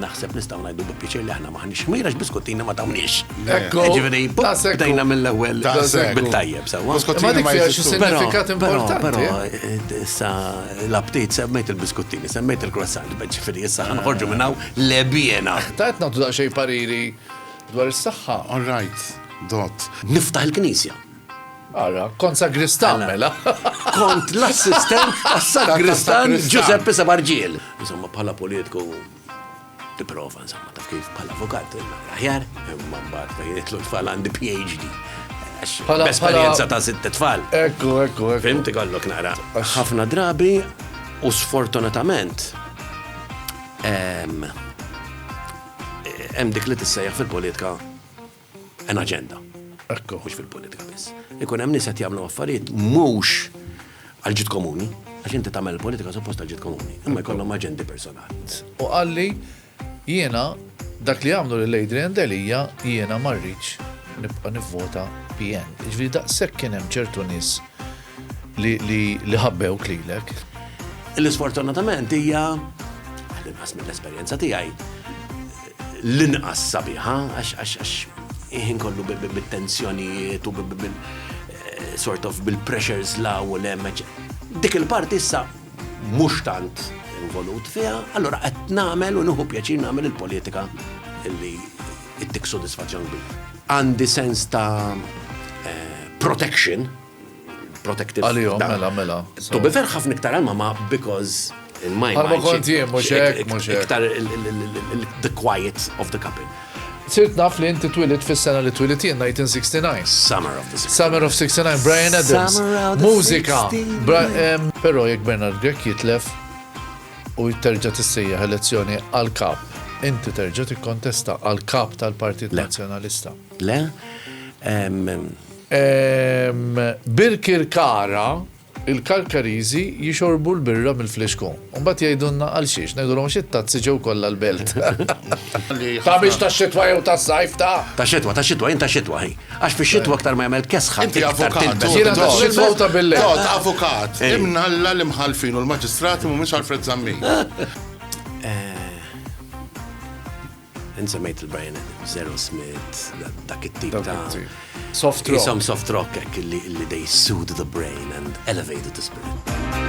Naħseb nistgħu ngħidu bi pjaċir li aħna m'aħniex ħmir għax biskuttina ma tawniex. Ekku. Jiġifieri bdejna mill-ewwel bit-tajjeb sewwa. Ma dik fiha xi sinifikat importanti. Però eh, issa l-aptit semmejt il-biskuttini, semmejt il-croissant, ġifieri issa ħanħorġu minn hawn lebjena. Ta' qed nagħtu daqsxejn pariri dwar is-saħħa. All right, dot. Niftaħ il-knisja. Ara, kont sagristan mela. Kont l-assistent tas-sagristan Giuseppe Sabarġiel. Insomma, bħala politku tipprova insomma taf kif bħala avukat aħjar imma mbagħad fejn jitlu tfal għandi PhD. Bħala esperjenza ta' sitt tfal. Ekku, ekku, ekku. Fimti kollok naqra. Ħafna drabi u sfortunatament hemm dik li tissejjaħ fil-politika an agenda. Ekku. Mhux fil-politika biss. Ikun hemm nies qed jagħmlu affarijiet mhux għal ġid komuni, għax inti tagħmel politika suppost għal ġid komuni, imma jkollhom aġendi personali. U qalli jiena dak li għamlu lil Adrian Delia jiena ma rridx nibqa' nivvota PN. Ġifieri daqshekk kien hemm ċertu nies li ħabbew klilek. L-isfortunatament hija, għal inqas mill-esperjenza tiegħi, l-inqas sabiħa għax għax għax il-ħin kollu bit-tensjonijiet u sort of bil-pressures la u l-hemm. Dik il-parti issa mhux tant involut fiha, allura qed nagħmel u nieħu pjaċir nagħmel il-politika li ttik sodisfazzjon kbir. Għandi sens ta' protection protective. Għalihom, mela, mela. To be fair, ħafna iktar għal mama because in my mind. Għalma kont jien, mux hekk, mux hekk. Iktar the quiet of the couple. Sirt naf li inti twilit fis-sena li twilit jien 1969. Summer of the 69. Summer of 69, Brian Adams. Mużika. Però jekk Bernard Grek jitlef u jitterġa tissejjaħ elezzjoni għal-kap, inti terġa tikkontesta għal-kap tal-Partit Nazzjonalista. Le, Birkirkara, Il-Karkariżi jixorbu l-birra mill-flixkun. U mbagħad jgħidulna għalxiex, ngħidulhom għax it-tazzi ġew kollha l-belt. Ta' mhix tax-xitwa jew tas-sajf, ta'? Tax-xitwa, tax-xitwa, jien tax-xitwa, hi. Għax fix-xitwa aktar ma jagħmel kesħa, iktar tilbes. Jiena tax-xitwa u ta' bil-lejl. Tod, avukat, imnalla l-imħallfin u l-maġistrati mhumiex Alfred Zammit. Int semmejt il-Brian Adams, Aerosmith, dak it-tip ta' soft rock. Isom soft rock hekk li they soothe the brain and elevated the spirit.